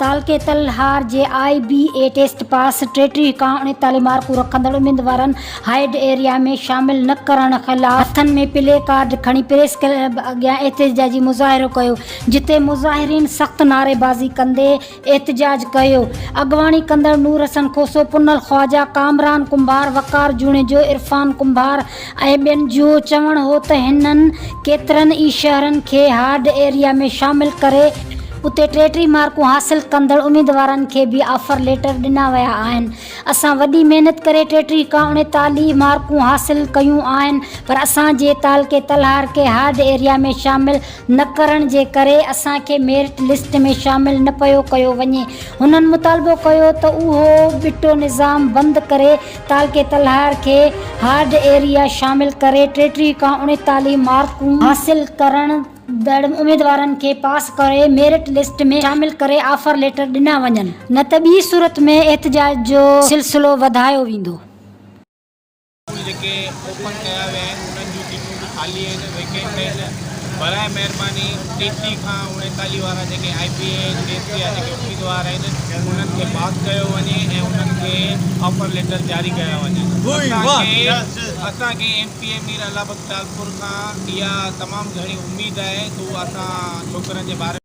تعلقي تل هار جي آء بي اي ٽيسٽ پاس ٽيٽي کان اڻيتاليهه مارڪون رکندڙ اميدوارن هائيڊ ايريا ۾ شامل نه ڪرڻ خلاف هٿن ۾ پلي ڪارڊ کڻي پريس ڪلب اڳيان احتجاجي مظاهرو ڪيو جتي مظاهرين سخت نعريبازي ڪندي احتجاج ڪيو اڳواڻي ڪندڙ نور حسن کوسو پنل خواجا ڪامران ڪنڀار وقار جوڻيجو عرفان ڪنڀار ۽ ٻين جو چوڻ هو ته هنن ڪيترن ئي شهرن کي هارڊ ايريا ۾ شامل ڪري اتي ٽي ٽي مارڪون حاصل ڪندڙ اميدوارن کي به آفر ليٽر ڏنا ويا آهن اسان وڏي محنت ڪري ٽي ٽي کان اڻيتاليهه مارڪون حاصل ڪيون آهن پر اسان جي تعلقي تلهار کي هارڊ ايريا ۾ شامل نه ڪرڻ جي ڪري اسان کي ميرٽ لسٽ ۾ شامل نه پيو ڪيو وڃي هنن مطالبو ڪيو ته اهو ٻٽو نظام بند ڪري تعلقي تلهار کي هارڊ ايريا شامل ڪري ٽيٽيهه کان اڻيتاليهه مارڪون حاصل ڪرندڙ اميدوارن کي پاس ڪري ميرٽ لسٽ ۾ شامل ڪري آفر ليٽر ڏنا وڃن نه ته ٻي صورت ۾ احتجاج جو سلسلو وڌايو ويندو. اسڪول جيڪي اوپن ڪيا ويا آهن انهن جون ٽڪيٽون اسڪول خالي آهن ويڪينٽ آهن براء مهرباني ٽي سي کان اڻيتالي وارا جيڪي آئي پي اي ڪي سي جا جيڪي اميدوار آهن انهن کي پاس ڪيو وڃي ۽ انهن کي آفر ليٽر جاري ڪيا وڃن اسان کي M P A Mir Allah Bux Talpur کان اها تمام گهڻي اميد آهي ته اسان ڇوڪرن جي باري